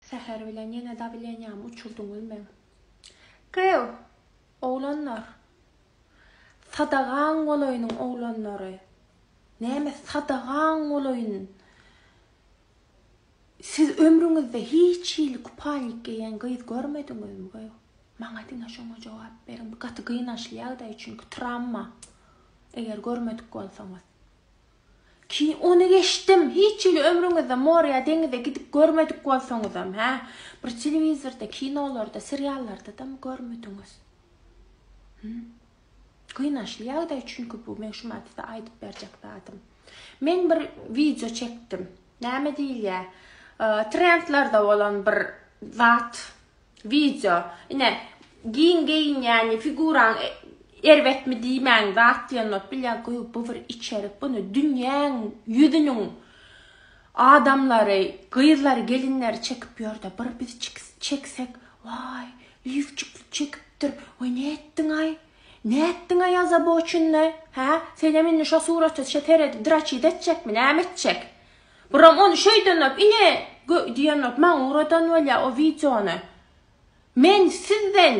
Säher bilen ýene dawleniýamy uçurdyňyz meň. Gyýw! Oglanlar! Sadagaň bolaýynyň oglanlary! Näme sadagaň bolaýyn? Siz ömrüňizde hiç hili kupalnik geýen gyz görmediňizmi, gyýw? Maňa diňe şoňa jogap beriň. Bu gaty gynançly ýagdaý, çünki tramma, eger görmedik bolsaňyz. Ki, ony geçdim, hiç hili ömrüňizde morýa, deňize gidip görmedik bolsaňyzam, hä? Bir telewizorda, kinolarda, seriallarda-dam görmediňiz. Hum. Gynançly ýagdaý çünki bu, men şumat size aýdyp berjek zadym. Men bir wideo çekdim. Näme diýilýär? Trendlerde bolan bir zat. Wideo. Ine, giň geýinýäni, figuraň erbetmi diýmäň, zat diýenok. Bilýän, goýy bu bir içerik. Bunu dünýäň ýüzüniň adamlary, gyzlary, gelinleri çekip ýörde. Bir biz çeksek, waý, lifçikli çekipdir, waý nätdiňaý? Nätdiňaý azaboçynly? Hä? Senem indi şo surata seredip draçit etjekmi, näme etjek? Buram ony şeýdenok ine diýenok maňa uradan bolýa o wideony men sizden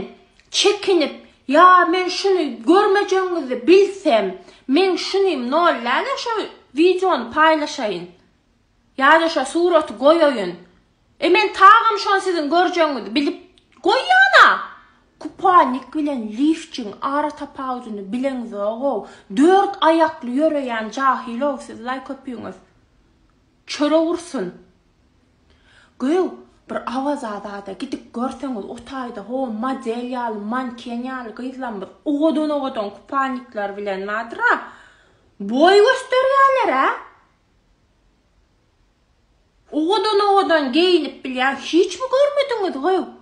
çekinip ýa men şuny görmejegiňizi bilsem meň şunym nol nädä şo wideony paýlaşaýyn ýada şo suraty goýaýyn E men tagam şony siziň görjegiňizi bilip goýýan-a! Kuponnik bilen lifçiň ara tapawudyny bileňizog-ow, dört aýakly ýöreýän jahyl-ow siz laý köpüňiz. Çörek ursun. Göw, bir Awazada-da gidip görseňiz, o taýda ho model ýaly, manken ýaly gyzlarymyz owadan-owadan kuponnikler bilen bardyr-a. Boý gösterýärler-ä. Owadan owadan geýinip bilýän hiçmi görmediňiz goý.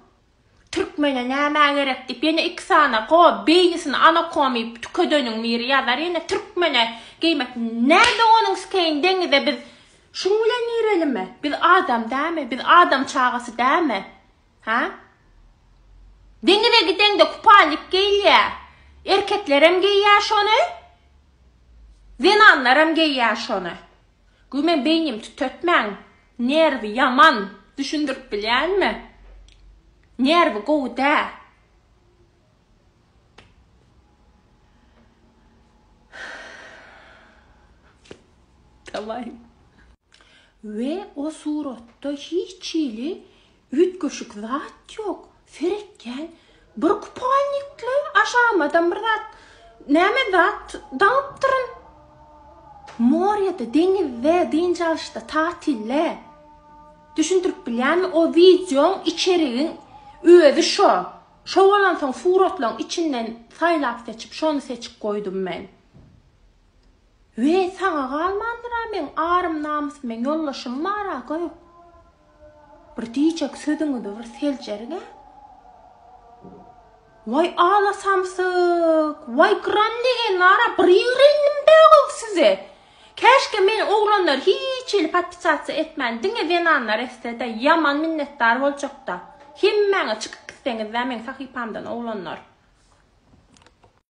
Türkmene nämä gerek diýip ýene iki sany go beýnisini anakomy tükedeniň biri ýazar ýene türkmene geýmek närde onuň skeýin deňize biz şuň bilen girelimi biz adam dämi biz adam çagasy dämi hä deňize gideňde kupalnik geýilýä erkeklerem geýýä şony zenanlaram geýýä şony Göw men beýnim tütetmäň nerwi ýaman düşündirip bilýänmi nerwi gowy dä. Daway. We o suratda hiç hili Üýtgeşik zat ýok. Seretýän bir kupalnikli aşagamadan bir zat, näme zat daňypdyryn. Morýede, deňizde, dynç alyşda, tatilde. Düşündirip bilýänmi, o wideoň içerigiň özi şo. Şo bolansoň suratlaryň içinden saýlap-seçip şony seçip goýdum men. We saňa galmandyra meň arym namys meň ýoldaşym bara gör bir diýjek sözüňizi bir seljeriňä Waý ala samsyk waý gran degen nara bir ýigrendim bägöw size käşke men oglanlar hiç hili podpisasiýa etmän diňe zenanlar etsede ýaman minnetdar boljakda hemmäňiz çykyp gitseňizda meň sahypamdan oglanlar.